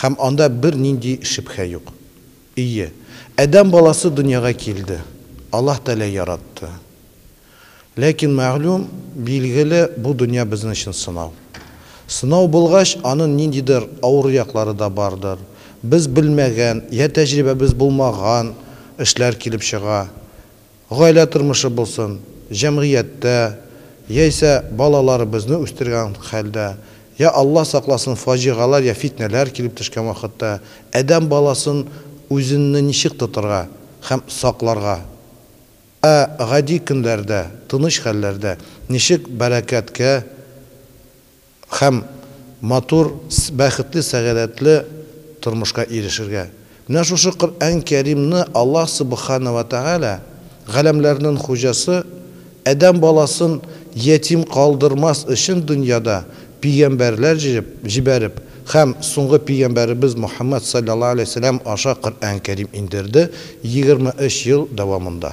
Һәм анда бер нинди шөбһә юк. Ие, адәм баласы дөньяга килде, Аллаһ Тәгалә яратты. Ләкин, мәгълүм, билгеле, бу дөнья безнең өчен сынау. Сынау булгач, анын ниндидер авыру яклары да бардыр, без белмәгән, я тәҗрибәбез булмаган эшләр килеп чыга. Гаилә тормышы булсын, җәмгыятьтә, яисә балаларыбызны үстергән хәлдә, йә Алла сакласын фаҗигаләр йә фитнәләр килеп төшкән вакытта адәм баласын үзенне ничек тотырга һәм сакларга? Ә гади көнләрдә, тыныч хәлләрдә ничек бәрәкәткә Һәм матур, бәхетле, сәгадәтле тормышка ирешергә. Менә шушы Коръән Кәримне Аллаһ Субхана вә Тәгалә, Галәмләрнен Хуҗасы, Адәм баласын ятим калдырмас өчен дөньяда пигәмбәрләр җибәреп һәм соңгы пигәмбәребез Мухәммәд салләллаһу галәйһи вә сәлләм аша Коръән Кәрим индерде, егерме өч ел дәвамында.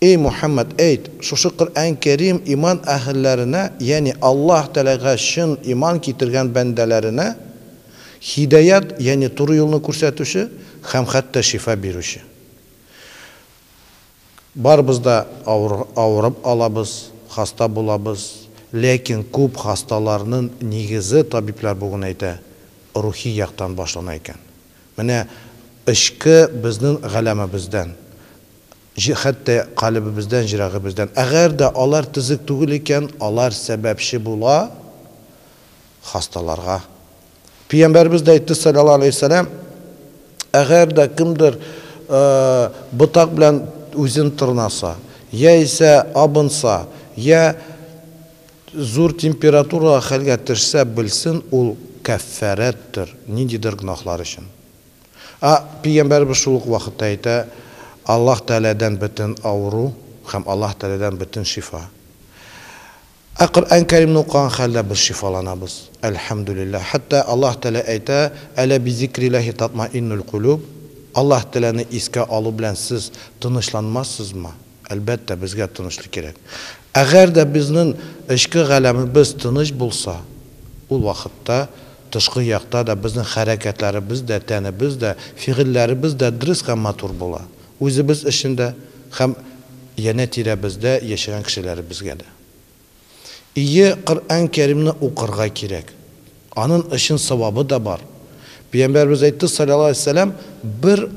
Эй Мухәммәд, әйт, шушы Коръән Кәрим иман әһелләренә, ягъни Аллаһ Тәгаләгә чын иман китергән бәндәләренә һидаять, ягъни туры юлны күрсәтүче һәм хәтта шифа бирүче. Барыбыз да авырып алабыз, хаста булабыз, ләкин күп хасталарнын нигезе, табиблар бүген әйтә, рухи яктан башлана икән. Менә эчке безнен галәмебездән. Җ Хәтта калебебездән, җрәгебездән. Әгәр дә алар тезек түгел икән, алар сәбәпче була хасталарга. Пиямбәребез дә әйтте, салләллаһу галәйһи вәсәләм, Әгәр дә кемдер ботак белән үзен тырнаса, яисә абынса, йә зур температурага хәлгә төшсә, белсен, ул кәффәрәттер, ниндидер гөнаһлар өчен. А Пәйгамбәребез шул ук вакытта әйтә, Аллаһ Тәгаләдән бөтен авыру һәм Аллаһ Тәгаләдән бөтен шифа. Ә Коръән Кәримне укыган хәлдә без шифаланабыз, әлхәмдүлилләһ. Хәтта Аллаһ Тәгалә әйтә, Әлә бизикрилләһи татмаиннуль кулүб, Аллаһ Тәгаләне искә алу белән сез тынычланмассызмы? Әлбәттә, безгә тынычлык кирәк. Әгәр дә безнең эчке галәмебез тыныч булса, ул вакытта тышкы якта да безнең хәрәкәтләребез дә, тәнебез дә, фигыльләребез дә дөрес һәм матур була, үзебез өчен дә һәм янә-тирәбездә яшәгән кешеләребезгә дә. Ие, Коръән Кәримне укырга кирәк. Анын очен савабы да бар. Пиямбәрбез әйтте, салләллаһу алейһи ва сәлләм, бер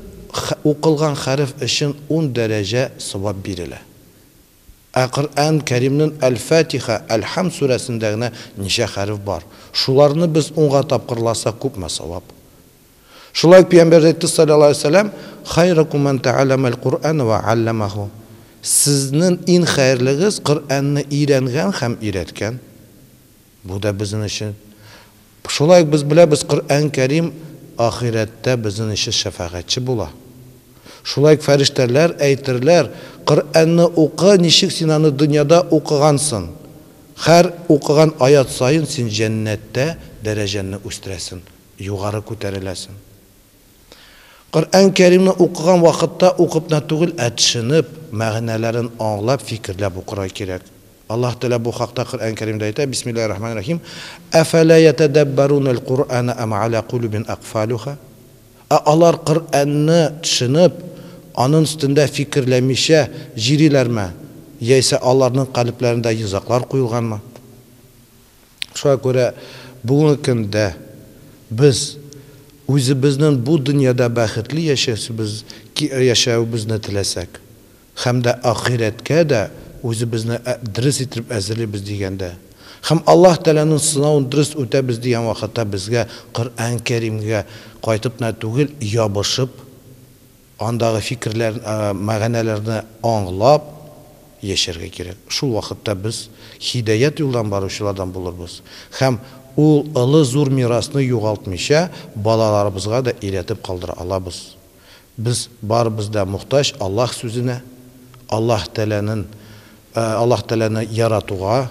укылган хәреф очен ун дәрәҗә савап бирелә. Ә Коръән Кәримнен әл-Фатиха, әл-Хәмд сүрәсендә генә ничә хәреф бар. Шуларны без унга тапкырласак күпме савап. Шулай ук Пәйгамбәребез әйтте, салләллаһу галәйһи вә сәлләм, Хайракум мән тәгаләмәл Коръән вә галләмәһу, Сезнен ин хәерлегез Коръәнне өйрәнгән һәм өйрәткән. Бу да безнен өчен. Шулай ук без беләбез, Коръән Кәрим ахирәттә безнен өчен шәфәгатьче була. Шулай ук фәрештәләр әйтерләр, Коръәнне укы, ничек син аны дөньяда укыгансын, хәр укыган аять саен син җәннәттә дәрәҗәңне үстерәсен. Югары күтәреләсең. Коръән Кәримне укыган вакытта укып на түгел, ә төшенеп, мәгънәләрен аңлап, фикерләп укырга кирәк. Аллаһ Тәгалә бу хакта Коръән Кәримдә әйтә, Бисмиллаһи рахмани рахим, Әфәлә ятәдәббәруналь Коръәнә әм галә кулүбин акфалүха? Ә алар Коръәнне төшенеп, анын өстендә фикерләмичә җириләрме, яисә аларнын калепләрендә йозаклар куелганмы? Шуңа күрә бүгенге көндә без үзебезнең бу дөньяда бәхетле яшәүсебез яшәвебезне теләсәк, һәм дә ахирәткә дә үзебезне дөрес итеп әзерлибез дигәндә, һәм Аллаһ Тәгаләнең сынавын дөрес үтәбез дигән вакытта безгә Коръән Кәримгә кайтып кына түгел, ябышып, Андагы фикерләр, мәгәнәләрне аңлап яшәргә кирәк. Шул вакытта без һидаять юлдан баручылардан булырбыз һәм ул олы зур мирасны югалтмыйча балаларыбызга да өйрәтеп калдыра алабыз. Без барыбыз да мохтаҗ Аллаһ сүзенә, Аллаһ Тәгаләнен, Аллаһ Тәгаләне яратуга.